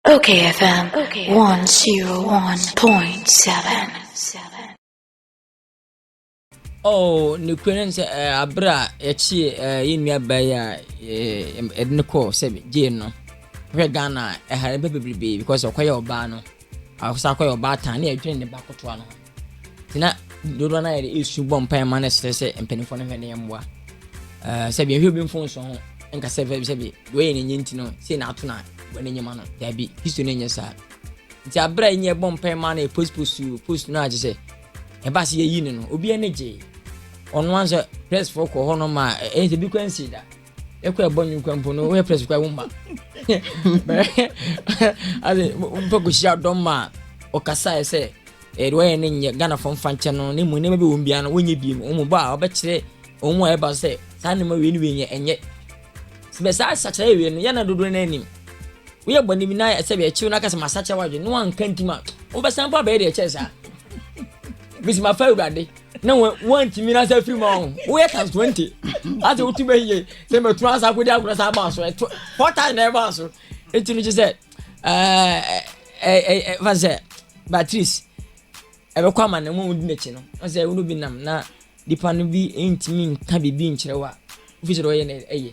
Okay FM 101.7 oh ne kura ne sɛ ɛɛ abere a yɛkyi ɛɛ yɛn nua baa yi a ɛɛ ɛde ne kɔɔ sɛ gyee no hwɛ ghana ɛha ne bɛ bebrebe because ɔkɔyɛ ɔbaa no akɔsa akɔyɛ ɔbaa tan ne ɛdwene ne ba kotoa no ho. nti na dodoɔ no a yɛde ɛsu bɔ mpae ma no serɛ sɛ mpanimfoɔ no hwɛ ne mmoa sɛ bi ɛhwɛ bi mfo nso ho nka sɛ fɛbi sɛbi wɔyɛ ne nyɛ nti no sei na ato na wɔn anim ano daabi history no nyɛ saa nti abere a nyɛ bɔ mpae ma no yɛ post post post no a kyerɛ sɛ ɛba se yɛyi no no obi ani gyee ɔno anso pressfoɔ kɔ hɔ no ma ɛyɛ sɛ bi kɔ ansi da ɛkɔ ɛbɔ nwi nkwa mpo no woyɛ press kora wo mma ade mpɛ kɔhyia dɔm ma a ɔkasaeɛ sɛ ɛde wɔyɛ no nyɛ ghanafoɔ mfa nkyɛ no ne mu nneɛma bi wɔn biara no wɔnyɛ bie mu wɔn bɔ a wɔbɛkyerɛ wɔn mu a ɛba sɛ saa nneɛma wei ne wei nyɛ ɛnyɛ sɛ saa sakyerɛ wei no yɛna dodoɔ no anim woyɛ bɔ ne bi na ɛsɛ bɛ ɛkyew no aka sɛ masakyɛ wadwe ne wanka ntim a wobɛsan mpo abɛyɛ deɛ ɛkyɛ saa bɛsi mafa awurade na wɔntumi na sɛ firi mu ɔho woyɛ times twenty ase wotu bɛ yie sɛ mɛturu asa akɔdi agorɔ sa aba so ɛtɔ four times na ɛba so eti no kye sɛ ɛɛ ɛɛ ɛɛ fa sɛ batteries ɛbɛkɔ ama na wɔn di n'akyi no ɔsɛ ɛwuro bi nam na nipa no bi ntumi nka biribi nkyerɛ wa ofi sɛ ɔyɛ na ɛyɛ.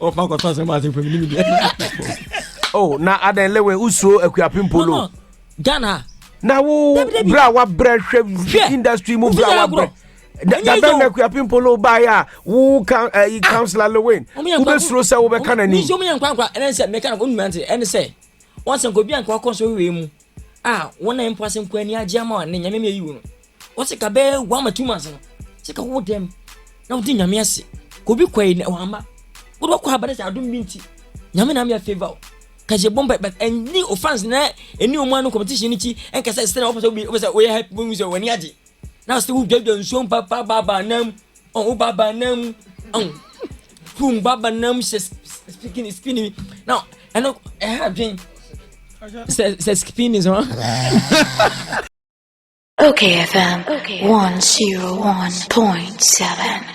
o ma kɔtɔ asɛm ase fam ne media o na adɛn lewe wosuo akuapem polo ghana na wo berɛ a wabrɛ hwɛ industry mu berɛ a wabrɛ dabɛn na akuapem polo baeɛ a wo eh, councilor lewen wobɛsuro sɛ wobɛka no anim ɛne sɛ meka no wonumante ɛne sɛ wɔsɛ nka obi anka wakɔ so wei mu A wɔn nan mpo ase nko ani agye ama ne nyame mmeayi wo no. Wɔse ka bɛɛ wa ma two months no. Sɛ ka wo dɛm na wodi nyame ase. Ka obi kɔe na wamma. Wode wakɔ aba ne sɛ adom bi nti. Nyame na ama yɛ favor o. Ka yɛbɔ mpa but ɛnni o fans na ɛnni ɔmo ano competition no kyi ɛnka sɛ sɛnea wopɛ sɛ wopɛ sɛ woyɛ hype wobɛhu sɛ w'ani agye. Na sɛ woduadua nsuo mpa pa ba ba nam ɔn wo ba ba nam ɔn kum ba ba nam hyɛ spikini spini na ɛno ɛha adwen sɛ sɛ spini sɛ Okay FM 101.7